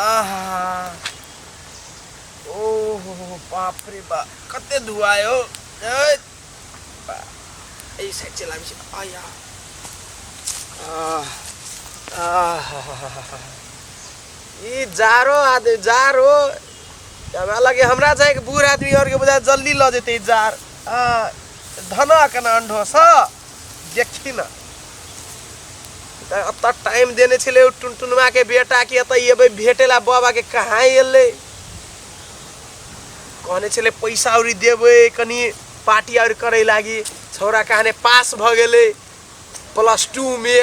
आहा ओहो बाप रे बाप कते धुआ हो ए, बा- एहि साइड चला आबै छै आया आह, आह, ई जारो आदमी जारो हमरा लगे हमरा छै कि बूढ़ आदमी और के बुझा जल्दी लऽ जेतै ई जार आ, धनक न अंडो सँ देखी ना त अब तक टाइम देने छले उ टुनटुनवा के बेटा के त ये भेटेला बाबा के कहाँ एले कहने छले पैसा और देवे कनी पार्टी और करे लागी छौरा कहने पास भ गेले प्लस टू में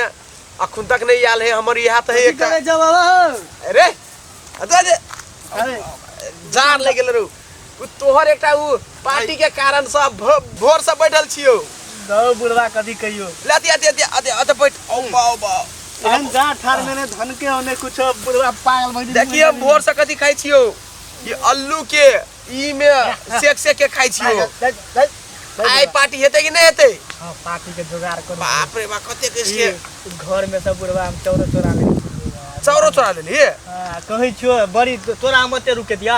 अखुन तक नहीं आल है हमर यहाँ तो है कथी एक करे जब आवा हो? अरे अरे अरे जान लग गेल रहू उ तोहर एकटा उ पार्टी के कारण से भ- भोर से बैठल छियो दौ बुढ़वा कथी कहियो ले अति अति अति अति अति बैठ औ बाओ बाओ एहन जा ठार मैंने धन के होने कुछ बुढ़वा पागल भइल देखिए हम भोर से कथी खाइ छियो ई अल्लू के ई में सेक सेक के खाइ छियो आइ पार्टी हेतै कि नहीं हेतै हां पार्टी के जुगाड़ करू बाप रे बाप कते के से ई घर में सब बुढ़वा हम चौरा चोरा ले चौरो चोरा लेली हां कहै छियो बड़ी तोरा मते रुके दिया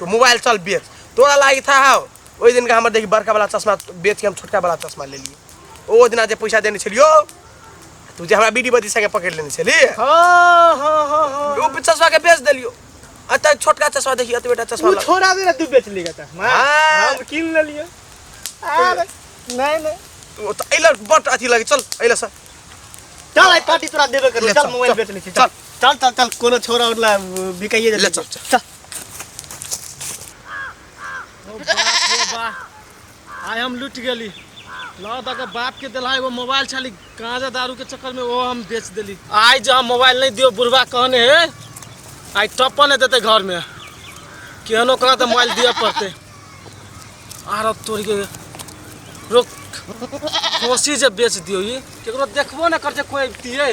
तो मोबाइल चल बेच तोरा लागी था हाउ ओहि दिनका हमर देखी बड़का वाला चश्मा बेच के हम छोटका वाला चश्मा ले लिए ओ दिना जे पैसा देने छलियो तू जे हमरा बीडी बदी संगे पकड़ लेने छली हाँ हाँ हाँ हाँ ओ चश्मा के बेच देलियो आ त छोटका चश्मा देखी अत बेटा चश्मा तू ला- छोड़ा दे ना तू बेच लेगा तक मां हाँ। हम किन ले लिए अरे नहीं नहीं तू त अइला बट अथी लगे चल अइला सर चल आई पार्टी तोरा देबे कर ले, चल चल, मोबाइल चल, बेच ले छी चल चल चल चल कोनो छोरा उरला बिकाइए ले चल चल आय हम लुट गेली लौ तक बाप के दिला एगो मोबाइल छाली गांजा दारू के चक्कर में वो हम बेच देली आय जो हम मोबाइल नहीं दियो बुढ़वा कहने है आय टप्पा नहीं देते घर में केहनो कहा तो मोबाइल दिया पड़ते आर अब तोड़ के रुक कोसी जे बेच दियो ये केकरो देखबो ना कर जे कोई दिए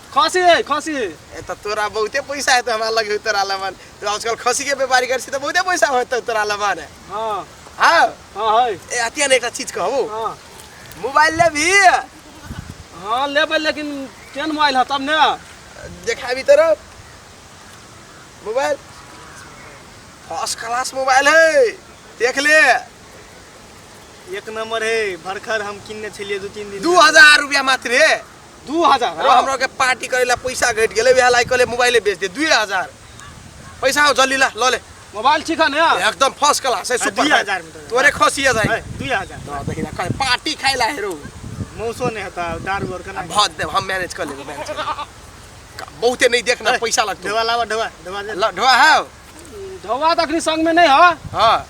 खसी है खसी है ए त तोरा बहुते पैसा है त हमरा लगे तोरा लमन तो आजकल खसी के व्यापारी कर छी त बहुते पैसा होत तोरा लमन है हाँ हां हाँ है ए अतिया ने एकटा चीज कहू हाँ मोबाइल ले भी हाँ लेबै लेकिन केहन मोबाइल है तब ने देखाबी तोरा मोबाइल फर्स्ट क्लास मोबाइल है देख ले एक नंबर है भरखर हम किनने छलिए दू तीन दिन दू हजार रुपया मात्र है दू हजार अरे हमरा के पार्टी करे ला पैसा घट गेले वह लाइक ले मोबाइल बेच दे दू हजार पैसा हो जल्दी ला लो ले मोबाइल ठीक है ना एकदम फर्स्ट क्लास है हाँ, सुपर हजार में तो। तोरे खुशी है भाई दू हजार तो दही ना कर पार्टी खाए ला हेरो मौसो नहीं होता दार गोर का बहुत दे हम मैनेज कर लेबे मैनेज बहुते नहीं देखना पैसा लगतो ढवा लावा ढवा ढवा ढवा है ढवा तक संग में नहीं है हां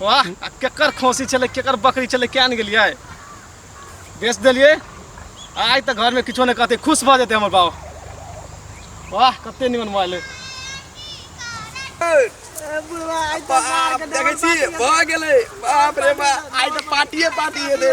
वाह आ केकर खोसी छलै केकर बकरी छलै किया ने गेलियै बेच देलियै आ आइ तऽ घरमे किछो नहि कहतै खुश भऽ जेतै हमर बाबा वाह कते निमन मोबाइल अइ देखै छी भऽ गेलै बाप रे बाप आइ तऽ पार्टिए पार्टी हेतै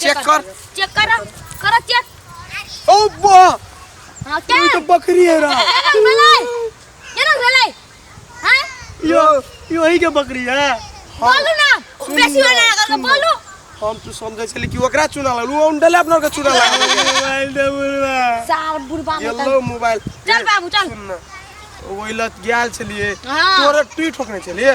चेक कर चेक कर कर चेक ओ बा हां क्या तो बकरी है रा ये भले ये ना भले हां यो यो ही के बकरी है बोलो ना बेसी वाला अगर बोलो हम तो समझे छली कि ओकरा चुना ला उ उंडले अपना के चुना ला मोबाइल दे बुरवा सार बुरवा ये लो मोबाइल चल बाबू चल वही लत गेल छलिए तोरे टूट ठोकने छलिए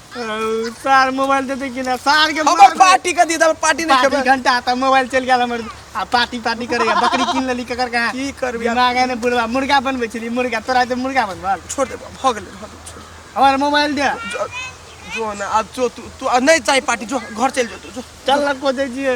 सार मोबाइल दे दे कि ना सार के हमर मार दे। पार्टी का दी हमर पार्टी नहीं पार्टी खेबे घंटा आता मोबाइल चल गया हमर आ पार्टी पार्टी करेगा बकरी कीन लेली ककर कहाँ की करबी आब? दिमाग है ने बुढ़वा मुर्गा बनबै छली मुर्गा तोरा जे मुर्गा बनबल छोड़ दे भऽ गेलै भऽ गेलै छोड़ दे। हमर मोबाइल दे जो- जो ना आब जो तू तू आ, नहीं चाही पार्टी जो घर चल जो तू जो चल लग को दे जिए